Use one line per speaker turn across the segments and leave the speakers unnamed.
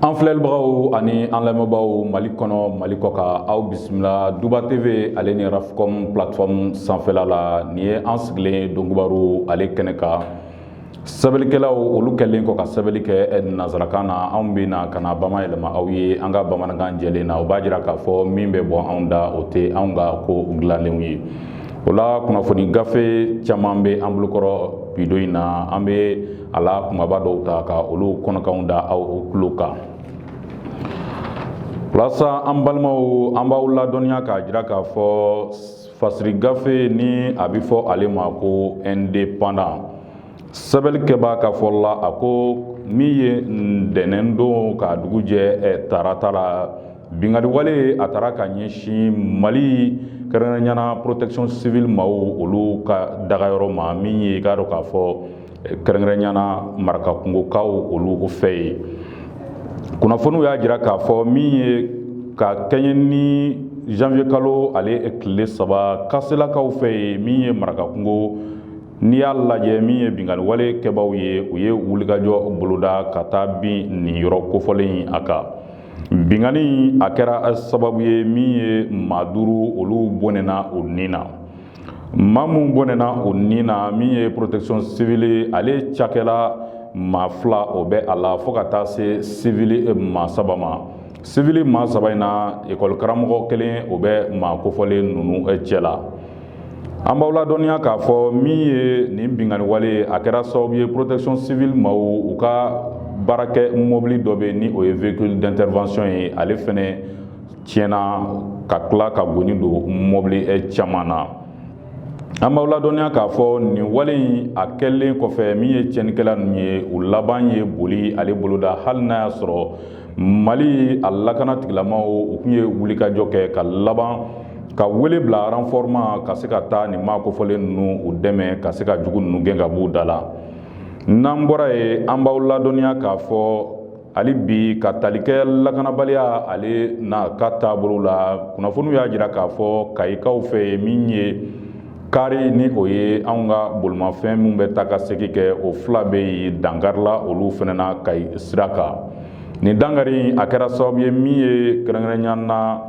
An filɛlibagaw ani an lamɛnbaaw Mali kɔnɔ Mali kɔkan aw bisimila Duba TV ale ni RAFCOM plateforme sanfɛla la nin ye an sigilen ye Donkibaru ale kɛnɛ kan sɛbɛnnikɛlaw olu kɛlen kɔ ka sɛbɛnni kɛ eh, nanzarakan na anw bɛ na ka n'a bamayɛlɛma aw ye an ka bamanankan jɛlen na o b'a jira k'a fɔ min bɛ bɔ anw da o tɛ anw ka ko dilanlenw ye O la kunnafoni gafe caman bɛ an bolokɔrɔ bi don in na an bɛ a la kumaba dɔw ta ka olu kɔnɔkanw da aw tulo kan walasa an balimaw an b'aw ladɔnniya k'a jira k'a fɔ fasiri gafe ni a bɛ fɔ ale ma ko Indépendant sɛbɛnnikɛbaa ka fɔ la a ko min ye ntɛnɛn don ka dugu jɛ eh, tarata la binkanni wale a taara ka ɲɛsin Mali kɛrɛnkɛrɛnya na protection civile maaw olu ka dagayɔrɔ ma min ye i k'a dɔn k'a fɔ eh, kɛrɛnkɛrɛnya na marakakungokaw olu fɛ ye kunnafoniw y'a jira k'a fɔ min ye ka kɛɲɛ ni janvier kalo ale tile saba kaselakaw fɛ ye min ye marakakungo N'i y'a lajɛ min ye binkanni wale kɛbaaw ye u ye wulikajɔ boloda ka taa bin nin yɔrɔ kofɔlen a kan binkanni a kɛra sababu ye min ye maa duuru olu bɔnɛna u ni na maa minnu bɔnɛna u ni na min ye protection civile ale cakɛla maa fila o bɛ a la fo ka taa se civil maa saba Civil maa saba in na ekɔli karamɔgɔ kelen o bɛ maa kofɔlen ninnu cɛ la an b'aw ladɔnniya k'a fɔ min ye nin binkanni wale a kɛra sababu ye protection civile maaw u ka baarakɛ mɔbili dɔ bɛ ni o ye véhicule d'intervention ye ale fana tiɲɛna ka tila ka goni don mɔbili caman na an b'aw ladɔnniya k'a fɔ nin wale in a kɛlen kɔfɛ min ye tiɲɛnikɛla ninnu ye u laban ye boli ale boloda hali n'a y'a sɔrɔ mali a lakanatigilamaw u tun ye wulikajɔ kɛ ka laban ka wele bila renfort ma ka se ka taa nin maa kofɔlen ninnu u dɛmɛ ka se ka jugu ninnu gɛn ka b'u da la n'an bɔra yen an b'aw ladɔnniya k'a fɔ hali bi ka tali kɛ lakanabaliya ale n'a ka taabolo la kunnafoniw y'a jira k'a fɔ kayikaw fɛ ye min ye kari ni o ye anw ka bolimafɛn minnu bɛ taa ka segin kɛ o fila bɛ yen dankarila olu fana na kayi sira kan nin dankari a kɛra sababu ye min ye kɛrɛnkɛrɛnya na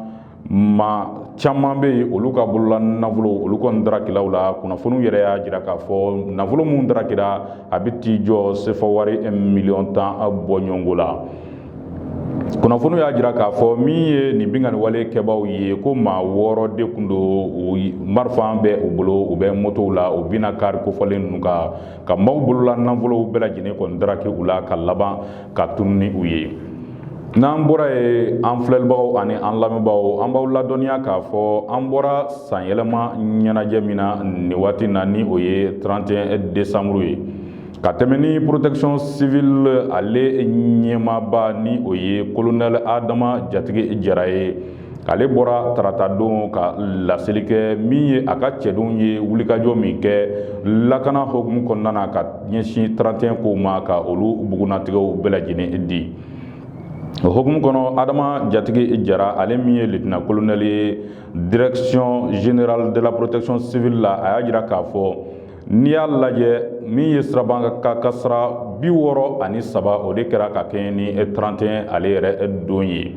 maa caman bɛ yen olu ka bolola nafolo olu kɔni darakila u la kunnafoniw yɛrɛ y'a jira k'a fɔ nafolo minnu darakira a bɛ t'i jɔ sefa wari miliyɔn tan bɔ ɲɔgɔnko la kunnafoniw y'a jira k'a fɔ min ye nin binkanni wale kɛbaaw ye ko maa wɔɔrɔ de tun don marifa bɛ u bolo u bɛ motow la u binna kari kofɔlen ninnu kan ka maaw bolola nafolow bɛɛ lajɛlen kɔni daraki u la ka laban ka tunu ni u ye n'an bɔra yen an filɛlibagaw ani an lamɛnbaaw an b'aw ladɔnniya k'a fɔ an bɔra sanyɛlɛma ɲɛnajɛ min na nin waati na ni o ye 31 desanburu ye ka tɛmɛ ni protection civil ale ɲɛmaaba ni o ye kolonɛli adama jatigi jara ye ale bɔra taratadon ka laseli kɛ min ye a ka cɛdenw ye wulikajɔ min kɛ lakana hokumu kɔnɔna na ka ɲɛsin 31 kow ma ka olu bugunnatigɛw bɛɛ lajɛlen di o hokumu kɔnɔ adama jatigi jara ale min ye litina kolonɛli ye direction générale de la protection civile la a y'a jira k'a fɔ N'i y'a lajɛ min ye sirabakan kasara bi wɔɔrɔ ani saba o de kɛra ka kɛɲɛ ni trente et un ale yɛrɛ don ye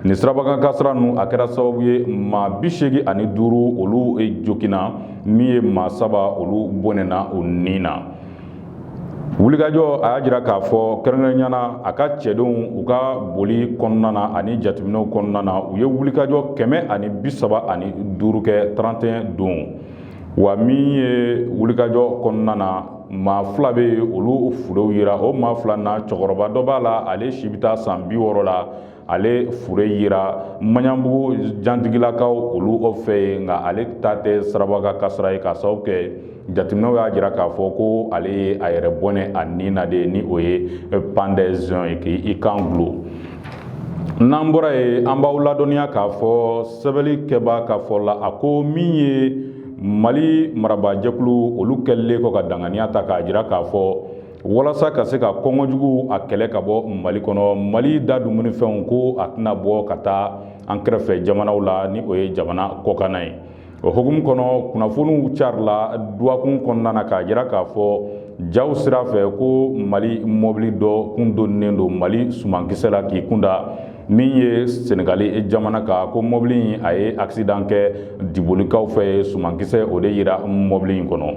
nin sirabakan kasara ninnu a kɛra sababu ye maa bi seegin ani duuru olu joginna min ye maa saba olu bɔnɛna u ni na wulikajɔ a y'a jira k'a fɔ kɛrɛnkɛrɛnnenya na a ka cɛdenw u ka boli kɔnɔna na ani jateminɛw kɔnɔna na u ye wulikajɔ kɛmɛ ani bi saba ani duuru kɛ trente et un don wa min ye wulikajɔ kɔnɔna na maa fila bɛ yen olu furew yira o maa fila na cɛkɔrɔba dɔ b'a la ale si bɛ taa san bi wɔɔrɔ la ale fure yira maɲanbugu jantigilakaw olu o fɛ yen nka ale ta tɛ sirabakan kasara ye k'a sababu kɛ jateminɛw y'a jira k'a fɔ ko ale ye a yɛrɛ bɔnɛ a ni na de ni o ye pendaison ye k'i kan gulo n'an bɔra yen an b'aw ladɔnniya k'a fɔ sɛbɛnnikɛbaa ka fɔ la a ko min ye mali marabaajɛkulu olu kɛlen kɔ ka danganiya ta k'a jira k'a fɔ walasa ka se ka kɔngɔ jugu a kɛlɛ ka bɔ mali kɔnɔ mali da dumunifɛnw ko a tɛna bɔ ka taa an kɛrɛfɛ jamanaw la ni o ye jamana kɔkanna ye o hukumu kɔnɔ kunnafoniw carila duwakun kɔnɔna na k'a jira k'a fɔ jaw sira fɛ ko mali mɔbili dɔ kun donnen don mali sumankisɛ la k'i kunda min ye senegali jamana kan ko mɔbili in a ye accident kɛ dibolikaw fɛ yen sumankisɛ o de yira mɔbili in kɔnɔ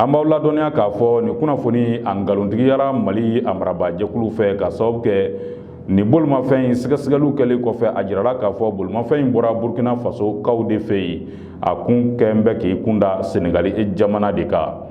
an b'aw ladɔnniya k'a fɔ nin kunnafoni a nkalontigiyara mali a marabaa jɛkulu fɛ k'a sababu kɛ Nin bolimafɛn in sɛgɛsɛgɛliw kɛlen kɔfɛ a jirala k'a fɔ bolimafɛn in bɔra Burkina Faso kaw de fɛ yen, a kun kɛn bɛ k'i kun da Senegali jamana de kan.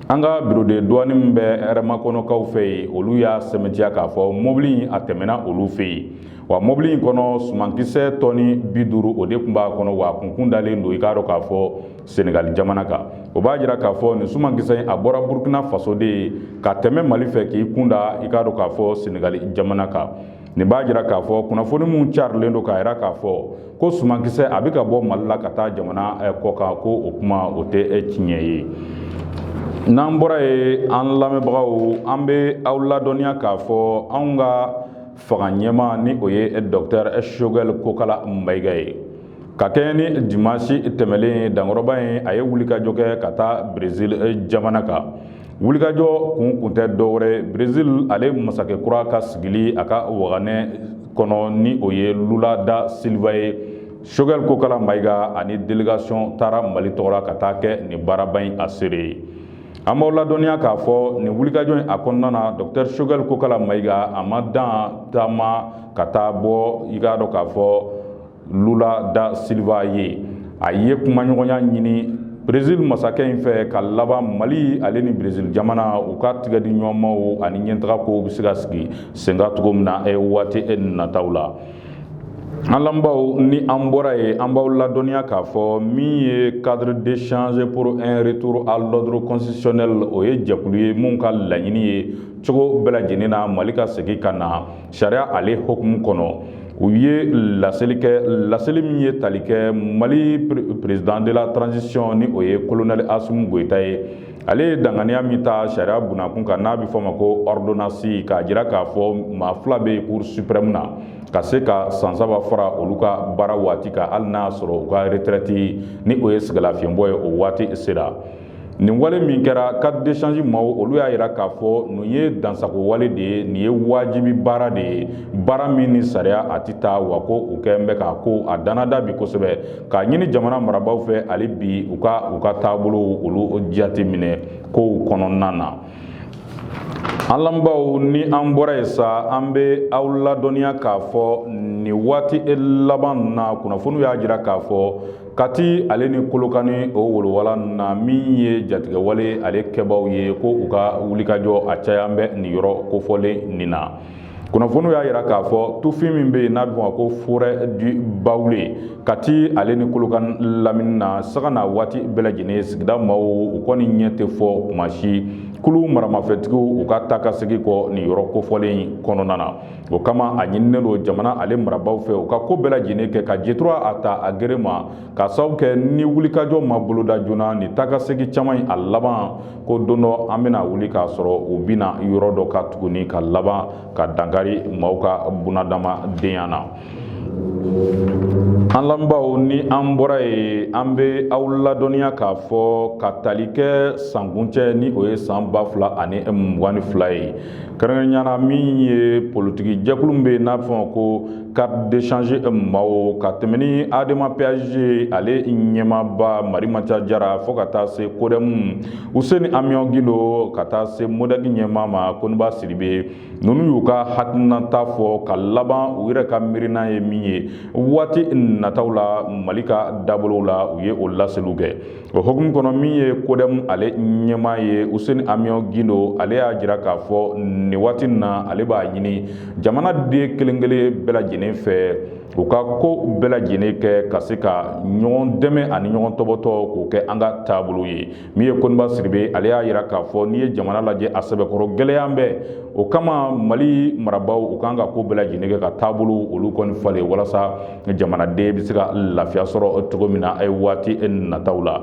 An ka bureau de douane min bɛ hɛrɛmakɔnɔkaw fɛ yen, olu y'a sɛmɛntiya k'a fɔ mɔbili in a tɛmɛna olu fɛ yen, wa mɔbili in kɔnɔ sumankisɛ tɔni bi duuru o de tun b'a kɔnɔ, wa a kun tun dalen don, i k'a dɔn k'a fɔ Senegali jamana kan o b'a jira k'a fɔ nin sumankisɛ in a bɔra burukina faso de ye ka tɛmɛ mali fɛ k'i kunda i k'a dɔn k'a fɔ senegali jamana kan nin b'a jira k'a fɔ kunnafoni minnu carilen don k'a jira k'a fɔ ko sumankisɛ a bɛ ka bɔ mali la ka taa jamana eh, kɔ kan ko o kuma o tɛ eh, tiɲɛ ye n'an bɔra ye an lamɛnbagaw an bɛ aw ladɔnniya k'a fɔ anw ka fanga ɲɛmaa ni o ye eh, dɔktɛr shogɛl kokala mayiga ye Ka kɛɲɛ ni dimanche tɛmɛlen dankɔrɔba in a ye wulikajɔ kɛ ka taa Brésil eh, jamana kan. Wulikajɔ kun kun tɛ dɔwɛrɛ Brésil ale masakɛ kura ka sigili a ka waganɛ kɔnɔ ni o ye Lula da Silva ye. Choguel Kokala Mayiga ani délégation taara Mali tɔgɔ la ka taa kɛ nin baaraba in a seere ye. An b'aw ladɔnniya k'a fɔ nin wulikajɔ in a kɔnɔna na Docteur Choguel Kokala Mayiga a ma dan taama ka taa bɔ i k'a dɔn k'a fɔ lula da silva ye a ye kumaɲɔgɔnya ɲini brezil masakɛ in fɛ ka laban mali ale ni brezil jamana u ka tigɛdiɲɔgɔnmaw ani ɲɛtaga kow bɛ se ka sigi sen kan cogo min na waati nataw la an lamɛnbaaw ni an bɔra ye an b'aw ladɔnniya k'a fɔ min ye cadre d'échange pour un retour à l'ordre constitutionnel o ye jɛkulu ye min ka laɲini ye cogo bɛɛ lajɛlen na mali ka segin ka na sariya ale hukumu kɔnɔ u ye laseli kɛ laseli min ye tali kɛ mali président de la transition ni o ye kolonɛli asimi goyita ye ale ye danganiya min ta sariya bunakun kan n'a bɛ fɔ ma ko ɔridonansi k'a jira k'a fɔ maa fila bɛ cour suprême na ka se ka san saba fara olu ka baara waati kan hali n'a sɔrɔ u ka retraite ni o ye sɛgɛnlafiɲɛbɔ ye o waati sera nin wale min kɛra cadre d'échange maaw olu y'a yira k'a fɔ nin ye dansagon wale de ye nin ye wajibi baara de ye baara min ni sariya a tɛ taa wa ko u kɔni bɛ k'a ko a danada bi kosɛbɛ k'a ɲini jamana marabaaw fɛ hali bi u ka u ka taabolow olu jate minɛ kow kɔnɔna na an lamɛnbaaw ni an bɔra yen sa an bɛ aw ladɔnniya k'a fɔ nin waati laban na kunnafoniw y'a jira k'a fɔ Kati ale ni kolokani o wolowala na min ye jatigɛwale ale kɛbaaw ye ko u ka wulikajɔ a caya bɛ nin yɔrɔ kofɔlen nin na kunnafoniw y'a jira k'a fɔ tufin min bɛ yen n'a bɛ fɔ ko forêt du Baoulé Kati ale ni kolokan lamini na sanga ni waati bɛɛ lajɛlen sigida maaw u kɔni ɲɛ tɛ fɔ kuma si kulu maramafɛntigiw u ka taa ka segin kɔ nin yɔrɔ kofɔlen kɔnɔna na o kama a ɲininen don jamana ale marabaaw fɛ u ka ko bɛɛ lajɛlen kɛ ka jɛ tura a ta a gere ma ka sababu kɛ ni wulikajɔ ma boloda joona ni taakasegin caman in a laban ko don dɔ an bɛna wuli k'a sɔrɔ u bɛna yɔrɔ dɔ ka tuguni ka laban ka dankari maaw ka bunadamadenya na an lamɛnbaaw ni an bɔra yen an bɛ aw ladɔnniya k'a fɔ ka tali kɛ sankuncɛ ni o ye san ba fila ani mugan ni fila ye kɛrɛnkɛrɛnya na min ye politiki jɛkulu min bɛ yen n'a bɛ fɔ ma ko cadre d'échange maaw ka tɛmɛ ni adema pasj ale ɲɛmaaba marimaca jara fo ka taa se kodɛmu useni amiyɔn gindo ka taa se modɛki ɲɛmaa ma koniba sidibe ninnu y'u ka hakilinata fɔ ka laban u yɛrɛ ka miirina ye min ye waati nataw la mali ka dabolow la u ye o laseliw kɛ O hukumu kɔnɔ min ye kodɛmu ale ɲɛmaa ye useni amiyɔn gindo ale y'a jira k'a fɔ nin waati in na ale b'a ɲini jamanaden kelenkelen bɛɛ lajɛlen fɛ u ka ko bɛɛ lajɛlen kɛ ka se ka ɲɔgɔn dɛmɛ ani ɲɔgɔn tɔbɔtɔ k'o kɛ an ka taabolo ye min ye koniba sidibe ale y'a jira k'a fɔ n'i ye jamana lajɛ a sɛbɛkɔrɔ gɛlɛyalen bɛ o kama mali marabaaw u kan ka ko bɛɛ lajɛlen kɛ ka taabolo olu kɔni falen walasa jamanaden bɛ se ka lafiya sɔrɔ cogo min na a ye waati nataw la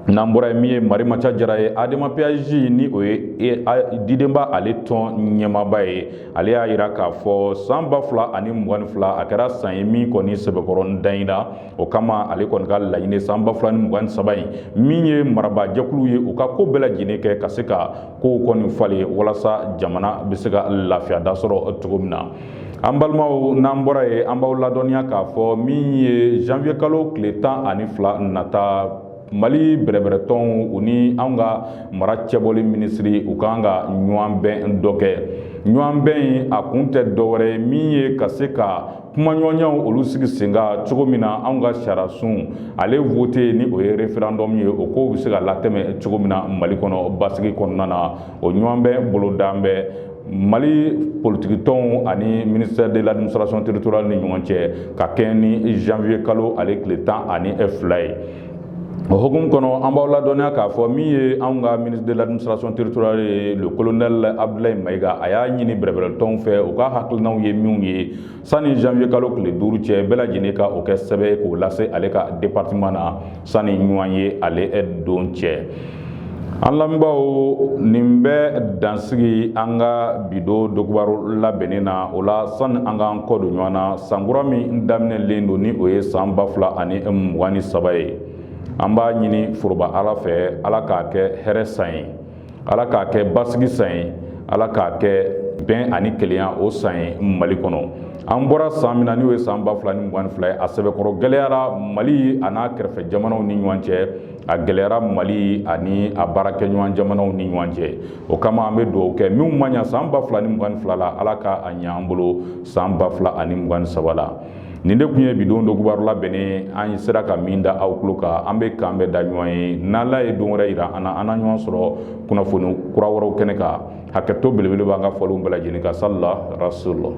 n'an bɔra yen min ye marimaca jara ye adema pasj ni o ye e, didenba ale tɔn ɲɛmaaba ye ale y'a jira k'a fɔ san ba fila ani mugan fila a kɛra san ye min kɔni sɛbɛkɔrɔ dan in na o kama ale kɔni ka laɲini san ba fila ni mugan saba in min ye marabajɛkulu ye u ka ko bɛɛ lajɛlen kɛ ka se ka kow kɔni falen walasa jamana bɛ se ka lafiya da sɔrɔ cogo min na an balimaw n'an bɔra yen an b'aw ladɔnniya k'a fɔ min ye janvier kalo tile tan ani fila nata mali bɛrɛbɛrɛtɔnw u ni anw ka mara cɛbɔli minisiri u kan ka ɲɔgɔn bɛn dɔ kɛ ɲɔgɔn bɛn in a kun tɛ dɔwɛrɛ ye min ye ka se ka kumaɲɔgɔnyaw olu sigi sen kan cogo min na anw ka sariyasun ale vote ni o ye referendum ye o kow bɛ se ka latɛmɛ cogo min na mali kɔnɔ basigi kɔnɔna na o ɲɔgɔn bɛn bolodalen bɛ mali politikitɔnw ani ministère de l'administration territoriale ni ɲɔgɔn cɛ ka kɛɲɛ ni janvier kalo ale tile tan ani fila ye o hukumu kɔnɔ an b'aw ladɔnniya k'a fɔ min ye anw ka ministre de l'administration territoriale ye le colonel abdulayi mayiga a y'a ɲini bɛrɛbɛrɛtɔnw fɛ u ka hakilinaw ye minw ye sani janvier kalo tile duuru cɛ bɛɛ lajɛlen ka o kɛ sɛbɛn ye k'o lase ale ka departement na sani ɲɔgɔnye ale don cɛ an lamɛnbaaw nin bɛ dansigi an ka bi don dɔgɔbaro labɛnnen na o la sani an k'an kɔ don ɲɔgɔn na sankura min daminɛlen don ni o ye san ba fila ani mugan ni saba ye an b'a ɲini foroba ala fɛ ala k'a kɛ hɛrɛ san ye ala k'a kɛ basigi san ye ala k'a kɛ bɛn ani kelenya o san ye mali kɔnɔ an bɔra san min na n'o ye san ba fila ni mugan fila ye a sɛbɛkɔrɔ gɛlɛyara mali a n'a kɛrɛfɛ jamanaw ni ɲɔgɔn cɛ a gɛlɛyara mali ani a baarakɛɲɔgɔn jamanaw ni ɲɔgɔn cɛ o kama an bɛ dugawu kɛ minnu ma ɲa san ba fila ni mugan fila la ala ka a ɲa an bolo san ba fila ani mugan saba la nin de tun ye bi don o kibaru labɛnnen an sera ka min da aw tulo kan an bɛ k'an bɛn da ɲɔgɔn ye n'ala ye don wɛrɛ yira an na an na ɲɔgɔn sɔrɔ kunnafoni kura wɛrɛw kɛnɛ kan hakɛto belebele b'an ka fɔlenw bɛɛ lajɛlen kan sali ala rasul